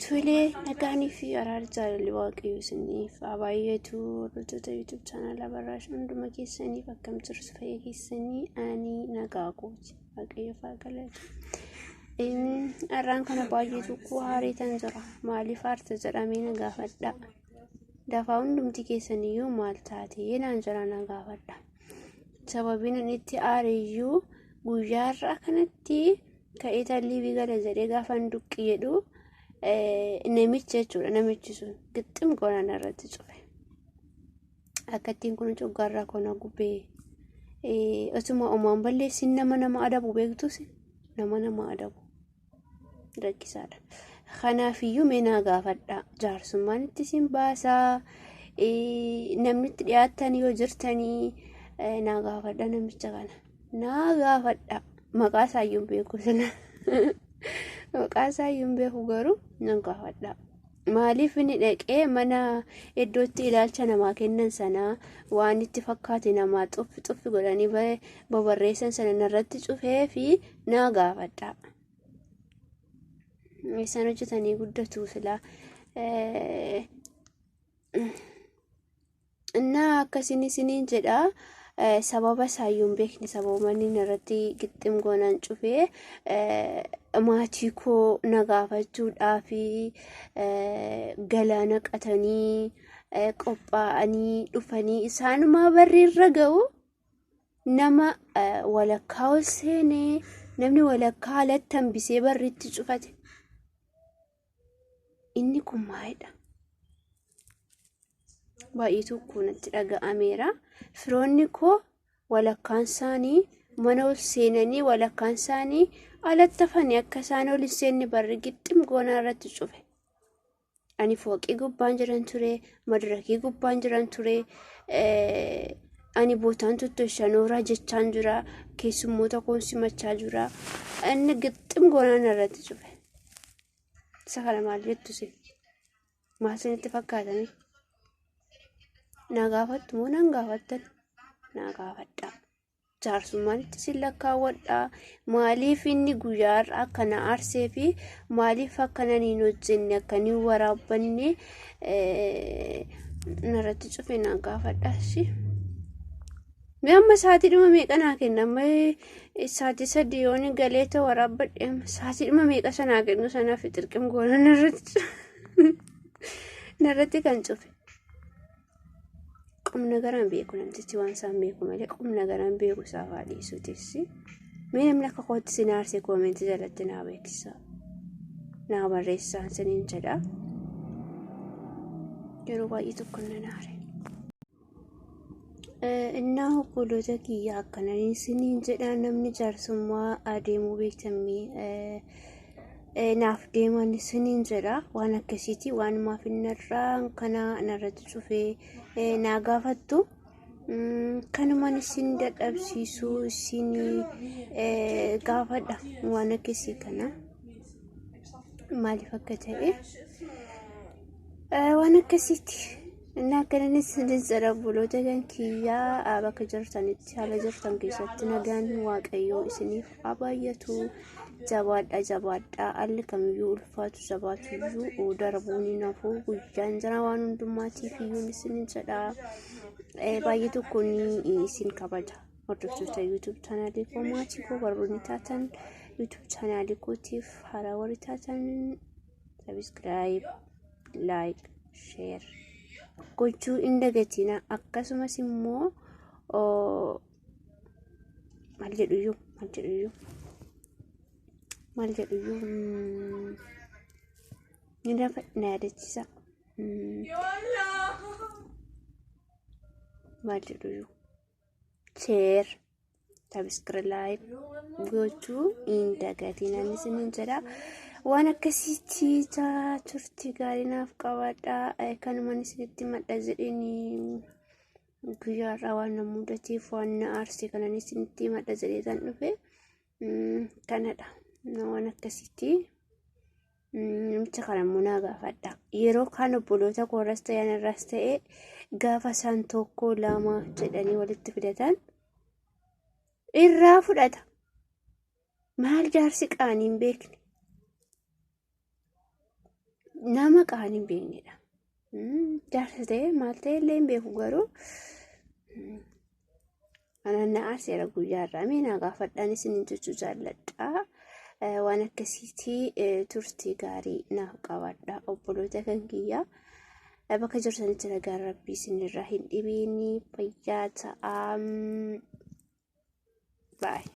Tolee nagaan fi araarri jaalalli waaqayyo isiniif haa baay'atu hordoftoota YouTube chaanala barraash hunduma keessaniif akkam jirtu fayya keessanii ani nagaa kooti waaqayyo faa galatu. Har'aan kana baay'ee tokko haareetan jira maaliif haarte jedhamee na gaafadha. Dafaa hundumti keessaniyyuu maal taate naan jira na gaafadha. sababiin inni itti aare iyyuu guyyaa har'aa kanatti ka'ee talliibii gala jedhee gaafa hin duqqi jedhu namicha jechuudha namichi sun gixxim goonaan irratti cufe akkattiin kun coggaarraa koona gubee osuma omaan balleessin nama nama adabu beektus nama nama adabu. rakkisaadha. Kanaafiyyuu mee naa gaafadhaa jaarsummaan itti isin baasaa namni itti dhiyaattan yoo jirtanii naa gaafadha namicha kana naa gaafadha maqaa isaayyuu hin beeku sana maqaa isaayyuu hin beeku garuu nan gaafadha. Maaliif inni dhaqee mana iddootti ilaalcha namaa kennan sanaa waan itti fakkaate namaa xuffi xuffi godhanii ba- babarreessan sana narratti cufee fi naa gaafadha. Isaan hojjetanii guddatu silaa. Eh, Innaa akkasiin isiniin jedha sababa isaayyuu hin beekne sababa inni irratti gixxim goonan cufee maatii koo na gaafachuudhaa fi galaana qatanii qophaa'anii dhufanii isaanumaa barri irra ga'u nama walakkaa ol seenee namni walakkaa alatti hambisee barri itti cufate. inni kun maalidha? Baay'ee tokko natti dhaga'ameera. Firoonni koo walakkaan isaanii mana ol seenanii walakkaan isaanii alatti hafanii akka isaan ol hin seenne barri gixxim goonaa irratti cufe. Ani fooqii gubbaan jiran ture, madirakii gubbaan jiran ture, ani bootaan tuttu shanooraa jechaan jira, keessummoota koon simachaa jira. Inni gixxim goonaan irratti cufe. Isa kana maal jettu isin? Maal isinitti fakkaatanii? Naa gaafattu moo nan gaafattan? Naa gaafadhaa. Jaarsummaan itti isin lakkaawwadhaa. Maaliif inni guyyaa har'a akka na aarsee fi maaliif akka nan hin hojjenne akka hin waraabbanne eh, narratti cufe naa gaafadhaa. Ishii. Mee amma sa'aatii dhuma meeqa naa kenna amma sa'aatii sadii yoon galee ta'u waraabbadhe amma sa'aatii dhuma meeqa sanaa kennu sanaa fi xirqim goona narratti narratti kan cufe. Qumna garaan beeku namtichi waan isaan beeku malee qumna garaan beeku isaa fa'aa dhiisuu teessi. Mee namni akka kootti si naarse koomentii jalatti naa beeksisa. Naa barreessaan siniin jedha. Yeroo baay'ee tokko na naare. Innaa obboloota kiyya akkana isiniin jedha namni jaarsummaa adeemuu beektammii naaf deeman isiniin jedha waan akkasiiti waan maaf innarraa kana narratti cufee naa gaafattu kanumaan isin dadhabsiisuu isin gaafadha waan akkasii kana maaliif akka ta'e waan akkasiiti. Inni akka inni isiniin jedha obboloota kan kiyyaa bakka jirtanitti haala jirtan keessatti nagaan waaqayyoo isiniif haa baay'atu jabaadha jabaadha alli kamiyyuu ulfaatu jabaatuyyuu darbuun hin hafu guyyaan jira waan hundummaatiif iyyuu isiniin jedha baay'ee tokko ni isin kabaja hordoftoota yuutuub chaanaalii koo maatii koo warroonni taatan yuutuub chaanaalii kootiif haaraa warri taatan sabiskiraayib laayik sheer gochuu hin dagatina akkasumas immoo maal jedhuyyuu maal jedhuyyuu maal jedhuyyuu ni lafa na yaadachiisa maal jedhuyyuu sheer sabiskirlaayib gochuu hin dagatiin ani isiniin jedha waan akkasii ciisaa turtii gaarii naaf qabaadha kanumaan isinitti madda jedheen guyyaa irraa waan na mudateef waan na aarse kanan isinitti madda jedhee kan dhufe kanadha waan akkasiitii. Namicha kana immoo naa gaafadha. Yeroo kaan obboloota koorras ta'e anarras ta'e gaafa isaan tokko lama jedhanii walitti fidatan irraa fudhata. Maal jaarsi qaanii hin beekne. Nama qaanii hin beeknedha. Jaarsa ta'ee maal ta'e illee hin beeku garuu anaan na aarseera guyyaa irraa mee naa gaafadhaan isin hin jechuu jaalladhaa. Waan akkasiitii turtii gaarii naaf qabaadhaa obboloota kan kiyyaa. Bakka jirtanitti nagaan rabbii isinirraa hin dhibiini fayyaa ta'aa. Baay'ee.